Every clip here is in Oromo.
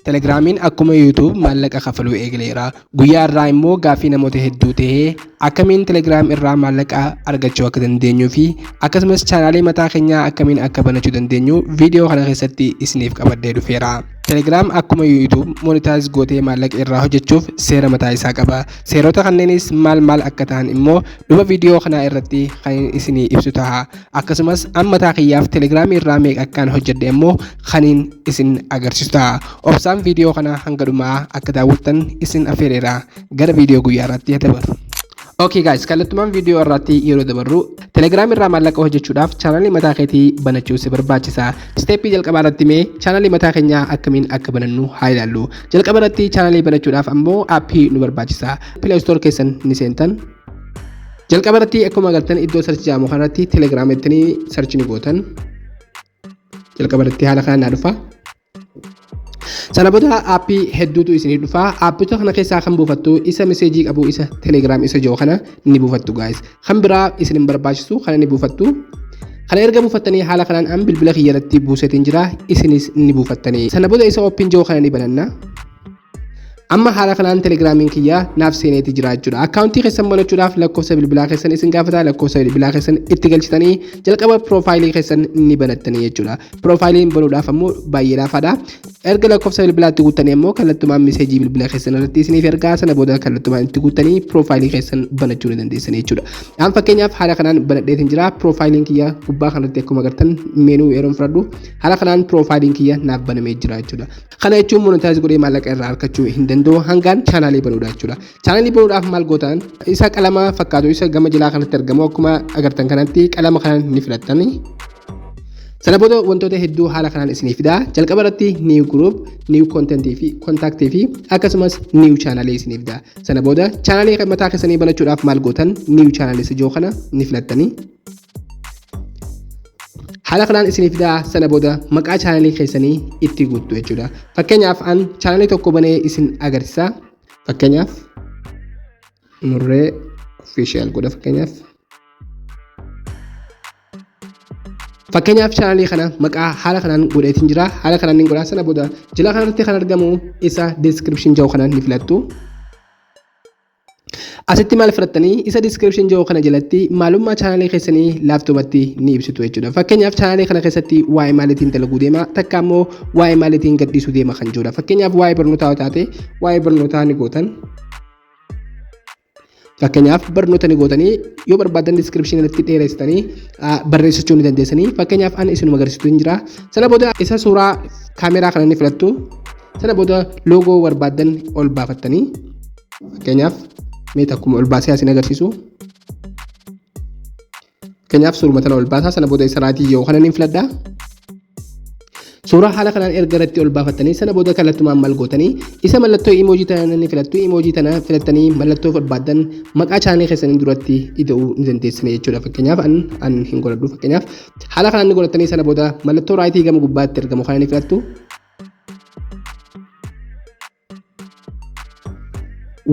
Telegraamiin akkuma YouTube maallaqa kafaluu eegaleera. Guyyaa irraa immoo gaaffii namoota hedduu ta'ee akkamiin Telegram irraa maallaqa argachuu akka dandeenyuu fi akkasumas chaanaalii mataa keenyaa akkamiin akka banachuu dandeenyu viidiyoo kana keessatti isiniif qabadhee dhufeera. Telegram akkuma YouTube monitaayiz gootee maallaqa irraa hojjechuuf seera mataa isaa qaba. Seerota kanneenis maal maal akka ta'an immoo dhuma viidiyoo kanaa irratti kan isinii ibsu taha. akkasumas an mataa kiyyaaf telegiraamii irraa meeqa akkaan hojjedhe immoo kaniin isin agarsiisu ta'a obsaan viidiyoo kanaa hanga dhumaa akka daawwattan isin affeereera gara viidiyoo guyyaa irratti dabaru. Okay guys, kallattumaan viidiyoo irratti yeroo dabarru Telegram irraa maallaqa hojjechuudhaaf chaanalii mataa keetii banachuu si barbaachisa. Steeppii jalqabaa irratti mee chaanalii mataa keenyaa akkamiin akka banannu haa ilaallu. Jalqaba irratti chaanalii banachuudhaaf ammoo aappii nu barbaachisa. Play Store keessan ni seentan. jalqaba irratti akkuma galtan iddoo sarchi jedhamu kanarratti telegram ittini sarchi ni gootan jalqaba irratti haala kanaan naa dhufa sana booda aappii hedduutu isinii dhufa aappota kana keessaa kan buufattu isa meseejii qabu isa telegram isa jiru kana ni buufattu gaayis kan biraa isin hin barbaachisu kana ni buufattu kana erga buufattanii haala kanaan an bilbila kiyya irratti buusetiin jira isinis ni buufattanii sana booda isa ooppiin jiru kana ni bananna Amma haala kanaan telegiraamiin kiyyaa naaf seeneeti jira jechuudha. Akkaawuntii keessan banachuudhaaf lakkoofsa bilbilaa keessan isin gaafata lakkoofsa bilbilaa keessan itti galchitanii jalqaba piroofaayilii keessan ni banattanii jechuudha. Piroofaayiliin banuudhaaf ammoo baay'ee laafaadha. Erga lakkoofsa bilbilaatti guuttanii ammoo kallattumaan miseejii bilbila keessan irratti isiniif ergaa sana booda kallattumaan itti guuttanii piroofaayilii keessan banachuu ni dandeessan jechuudha. An fakkeenyaaf haala kanaan banadheetiin jira piroofaayiliin kiyya gubbaa kanarratti akkuma agartan meenuu yeroon fudhadhu haala kanaan piroofaayiliin kiyya naaf banamee jira jechuudha. Kana jechuun monetize godhee maallaqa irraa argachuu hin danda'u hangaan chaanaalii banuudha jechuudha. Chaanaalii banuudhaaf maal gootan isa qalama fakkaatu isa gama jalaa kanatti argamu akkuma agartan kanatti qalama kana ni filattani. Sana booda wantoota hedduu haala kanaan isinii fida. Jalqaba irratti new group, new content fi contact fi akkasumas new channel isinii fida. Sana booda chaanaalii mataa keessanii banachuudhaaf maal gootan new channel isa jiru kana ni filattani. haala kanaan isiniif fidaa sana booda maqaa chaanalii keessanii itti guuttu jechuudha. Fakkeenyaaf an chaanalii tokko banee isin agarsiisa. Fakkeenyaaf murree official godha fakkeenyaaf. Fakkeenyaaf chaanalii kana maqaa haala kanaan godheetiin jira. Haala kanaan ni godhaa sana booda jila kanarratti kan argamu isa description jedhu kanaan ni filattu. Asitti maal fudhattanii isa description jiru kana jalatti maalummaa chaanaalii keessanii laaftoobatti ni ibsitu jechuudha. Fakkeenyaaf chaanaalii kana keessatti waa'ee maaliitiin dalaguu deema takka immoo waa'ee maaliitiin gadhiisuu deema kan jirudha. Fakkeenyaaf waa'ee barnootaa yoo taate waa'ee barnootaa ni gootan. Fakkeenyaaf barnoota ni gootanii yoo barbaadan description irratti dheeressitanii barreessachuu ni dandeessanii. Fakkeenyaaf ani isinuma agarsiisu hin jira. Sana booda isa suuraa kaameraa kana ni filattu. Sana booda loogoo barbaadan ol baafattanii Fakkeenyaaf mee takkuma ol baasee asiin agarsiisu. Fakkeenyaaf suuruma tana ol baasaa sana booda isa raatii yoo kana niin filadha. Suuraa haala kanaan erga irratti ol baafattanii sana booda kallattumaan maal gootanii isa mallattoo imoojii tana ni filattu imoojii tana filattanii mallattoo barbaaddan maqaa chaanee keessanii duratti ida'uu ni dandeessine jechuudha fakkeenyaaf an an hin godhadhu fakkeenyaaf haala kanaan ni godhattanii sana booda mallattoo raayitii gama gubbaatti argamu kana ni filattu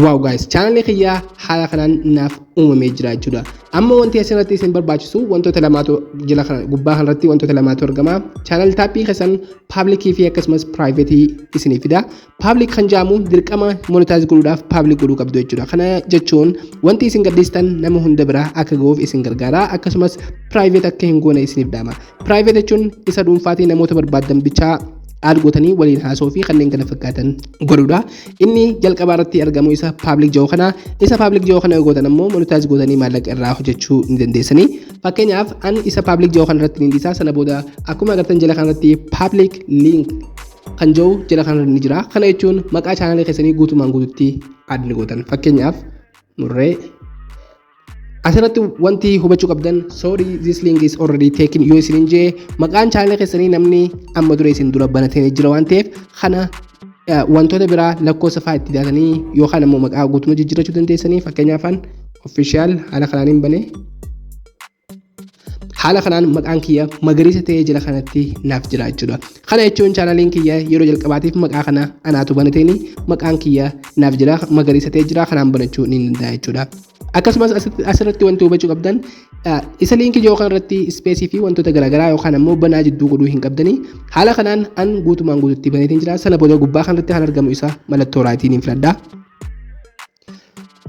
Waaw guys chaanalii kiyyaa haala kanaan naaf uumamee jira jechuudha. Amma wanti asirratti isin barbaachisu wantoota lamaatu jila kana gubbaa kanarratti wantoota lamaatu argama. Chaanal taappii keessan paablikii fi akkasumas piraayiveetii isiniif fida. Paablik kan jedhamu dirqama monitaayiz godhuudhaaf paablik godhuu qabdu jechuudha. Kana jechuun wanti isin gadhiistan nama hunda bira akka ga'uuf isin gargaara akkasumas piraayiveet akka hin goone isiniif dhaama. Piraayiveet jechuun isa dhuunfaatii namoota barbaadan bichaa aad gootanii waliin haasoo fi kanneen kana fakkaatan godhuudha. Inni jalqabaa irratti argamu isa paablik ji'oo kana isa paablik ji'oo kana yoo gootan ammoo monitaayiz gootanii maallaqa irraa hojjechuu ni dandeessanii. Fakkeenyaaf an isa paablik ji'oo kana irratti ni dhiisaa sana booda akkuma agartan jala kana irratti paablik liink kan jiru jala kana ni jira. Kana jechuun maqaa chaanaalii keessanii guutumaan guututti aad ni gootan. Fakkeenyaaf murree Asirratti wanti hubachuu qabdan sorry this link is already taken yoo isinin jee maqaan chaanala keessanii namni amma dura isin dura banatee jira waan ta'eef kana eh, wantoota biraa lakkoofsa fa'aa itti daatanii yookaan ammoo maqaa guutummaa jijjiirrachuu dandeessanii fakkeenyaaf an official haala kanaan hin bane haala kanaan maqaan kiyya magariisa ta'ee jira kanatti naaf jira jechuudha. Kana jechuun chaanaliin kiyya yeroo jalqabaatiif maqaa kana anaatu banateeni maqaan kiyya naaf jira magariisa ta'ee jira kanaan banachuu ni danda'a jechuudha. Akkasumas asirratti wanti hubachuu qabdan isa liinkii yoo kanarratti ispeesii fi wantoota garaagaraa yookaan ammoo banaa jidduu godhuu hin qabdanii haala kanaan an guutumaan guututti baneetiin jira sana booda gubbaa kanarratti kan argamu isa mallattoo raayitiin hin filadha.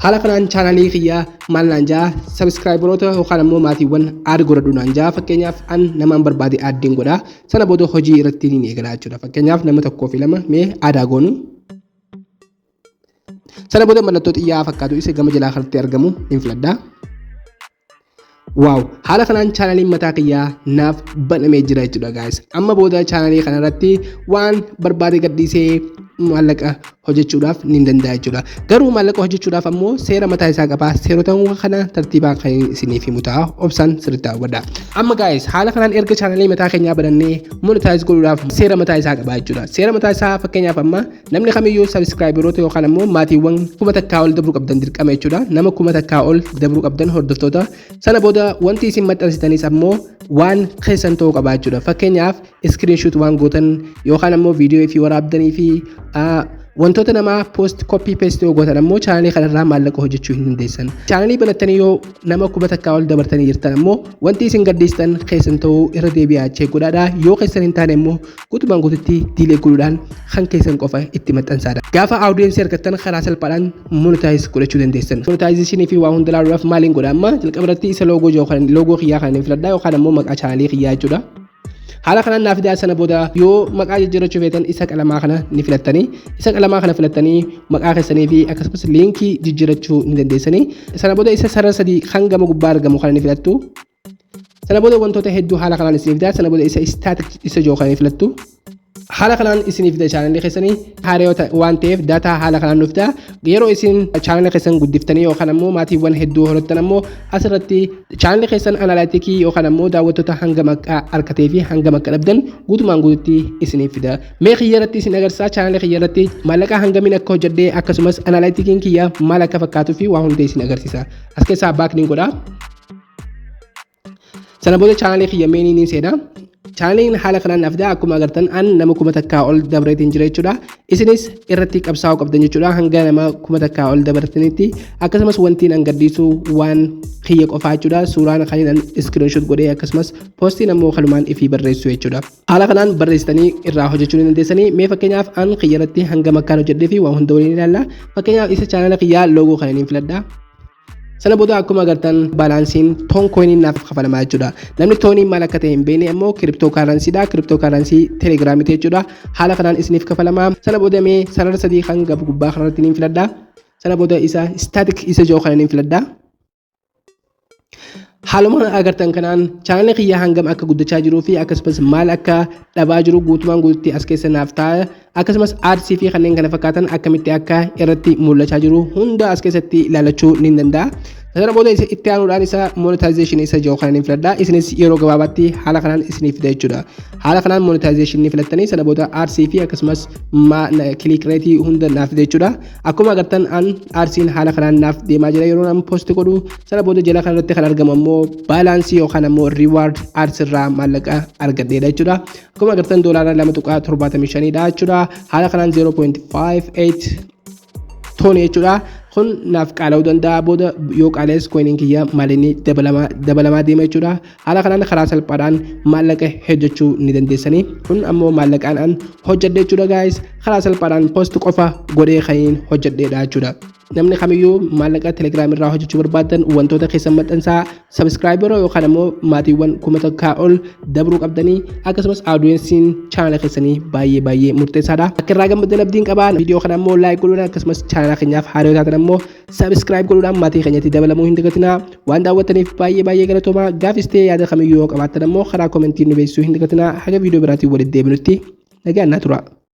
Haala kanaan chaanaalii kiyya maal naan jaa sabiskiraayibaroota yookaan ammoo maatiiwwan aad godhadhu naan jaa fakkeenyaaf an namaan barbaade aaddiin godha sana booda hojii irratti niin eegalaa jechuudha fakkeenyaaf nama tokkoo fi lama mee aadaa goonu. Sana booda mallattoo xiyyaa fakkaatu isa gama jalaa kanatti argamu niin filadha. Waaw haala kanaan chaanaliin mataa kiyyaa naaf banamee jira jechuudha gaayis. Amma booda chaanalii kanarratti waan barbaade gadhiisee maallaqa hojjechuudhaaf ni danda'a jechuudha. Garuu maallaqa hojjechuudhaaf ammoo seera mataa isaa qaba. Seerota kana tartiibaan kan isiniif himu ta'a. Obsaan sirriitti hawwadha. Amma gaayis haala kanaan erga chaanalii mataa keenyaa banannee monitaayiz godhuudhaaf seera mataa isaa qaba jechuudha. Seera mataa isaa fakkeenyaaf amma Namni kamiyyuu sabiskiraayibaroota yookaan ammoo maatiiwwan kuma takkaa ol dabruu qabdan dirqama jechuudha. Nama kuma takkaa ol dabruu qabdan hordoftoota. Sana booda wanti isin maxxansitanis ammoo waan keessan ta'uu qaba jechuudha. Fakkeenyaaf iskiriinshuut waan gootan yookaan ammoo viidiyoo fi waraabdanii fi wantoota namaa poost koppii peestii yoo gootan ammoo chaanalii kanarraa maallaqa hojjechuu hin dandeessan. Chaanalii banattanii yoo nama kuma takkaa ol dabartanii jirtan ammoo wanti isin gadhiistan keessan ta'uu irra deebi'aa cheek godhaadha. Yoo keessan hin taane immoo Guutumaan guututti diilee godhuudhaan kan keessan qofa itti maxxansaadha. Gaafa audience argattan karaa salphaadhaan monetize godhachuu dandeessan. Monetization fi waa hunda ilaaluudhaaf maaliin godha amma jalqaba irratti isa loogoo jiru kan loogoo kiyyaa kan hin filadha yookaan ammoo maqaa chaanaalii kiyyaa jechuudha. Haala kanaan naaf fidaa sana booda yoo maqaa jijjiirrachuu feetan isa qalamaa kana ni filattanii isa qalamaa kana filattanii maqaa keessanii fi akkasumas liinkii jijjiirrachuu ni dandeessanii sana booda isa sarara sadii kan gama gubbaa argamu kana ni filattu Sana booda wantoota hedduu haala kanaan isin fida. Sana booda isa static isa jiru kana filattu. Haala kanaan isin fida chaanalli keessanii haaree waan ta'eef daataa haala kanaan nu fida. Yeroo isin chaanala keessan guddiftanii yookaan ammoo maatiiwwan hedduu horattan ammoo asirratti chaanalli keessan analaatikii yookaan ammoo daawwattoota hanga maqaa argatee fi hanga maqaa dhabdan guutumaan guututti isiniif fida. Mee kiyya irratti isin agarsiisa chaanalli kiyya irratti maallaqa hangamiin akka hojjedhee akkasumas analaaitikiin kiyya maal akka fakkaatuu fi waa hunda isin agarsiisa. As keessaa baakniin godhaa. Sana booda chaanaalii kiyya meenii ni seena. Chaanaaliin haala kanaan naaf fidaa akkuma agartan an nama kuma takkaa ol dabreetiin jira jechuudha. Isinis irratti qabsaa'uu qabdan jechuudha hanga nama kuma takkaa ol dabartanitti akkasumas wantiin an gadhiisu waan kiyya qofaa jechuudha suuraan kan an iskiriinshot godhee akkasumas poostiin ammoo kanumaan ifii barreessu jechuudha. Haala kanaan barreessitanii irraa hojjechuu ni dandeessanii mee fakkeenyaaf an kiyya irratti hanga makkaan hojjedhee fi waan hunda waliin ilaalla fakkeenyaaf isa chaanaala kiyyaa loogoo kana niin filadha. Sana booda akkuma agartan baalaansiin toon kooyiniin naaf kafalamaa jechuudha. Namni tooniin maal akka ta'e hin beekne immoo kiriptoo kaaraansiidha. Kiriptoo kaaransii telegiraamiiti jechuudha. Haala kanaan isiniif kafalama. Sana booda mee sarara sadii kan gabu gubbaa kanarratti niin filadha. Sana booda isa istaatik isa jiru kana niin filadha. Haaluma agartan kanaan chaanalii kiyya hangam akka guddachaa jiruu fi akkasumas maal akka dhabaa jiru guutumaan guututti as keessa naaf ta'a. akkasumas ads fi kanneen kana fakkaatan akkamitti akka irratti mul'achaa jiru hunda as keessatti ilaalachuu ni danda'a. Sana booda isa itti aanuudhaan isa monetization isa jiru kanan filadha. Isinis yeroo gabaabaatti haala kanaan isiniif fida jechuudha. Haala kanaan monetization ni filattanii sana booda ads fi akkasumas click rate hunda naaf fida jechuudha. Akkuma agartan an adsiin haala kanaan naaf deemaa jira yeroo an post godhu sana booda jala kanarratti kan argamu ammoo balance yookaan ammoo reward ads irraa maallaqa argadheedha jechuudha. Akkuma agartan doolaara 2.75 dha jechuudha. Haala kanaan 0.58 tooni jechuudha. Kun naaf qaala'uu danda'a booda yoo qaala'es koiniin kiyya maalinni dabalamaa deema jechuudha. Haala kanaan karaa salphaadhaan maallaqa hojjechuu ni dandeessanii. Kun ammoo maallaqaan an hojjedhe jechuudha gaayis. Karaa salphaadhaan post qofa godhee kaniin hojjedheedha jechuudha. Namni kamiyyuu maallaqa telegiraam irraa hojjechuu barbaadan wantoota keessan maxxansaa Sabiskiraayibara yookaan ammoo maatiiwwan kuma takkaa ol dabruu qabdanii akkasumas audiyeensiin chaanala keessanii baay'ee baay'ee murteessaadha. Akka irraa gammaddan abdiin qabaa viidiyoo kana ammoo laayik godhuudhaan akkasumas chaanala keenyaaf haaraa yoo taatan ammoo sabiskiraayib godhuudhaan maatii keenyatti dabalamuu hin dagatinaa. Waan daawwattaniif baay'ee baay'ee galatoomaa gaafis ta'ee yaada kamiyyuu yoo qabaattan ammoo karaa koomentiin nu beeksisuu hin dagatinaa haga viidiyoo biraatiin walitti deebinutti nagaan naa turaa.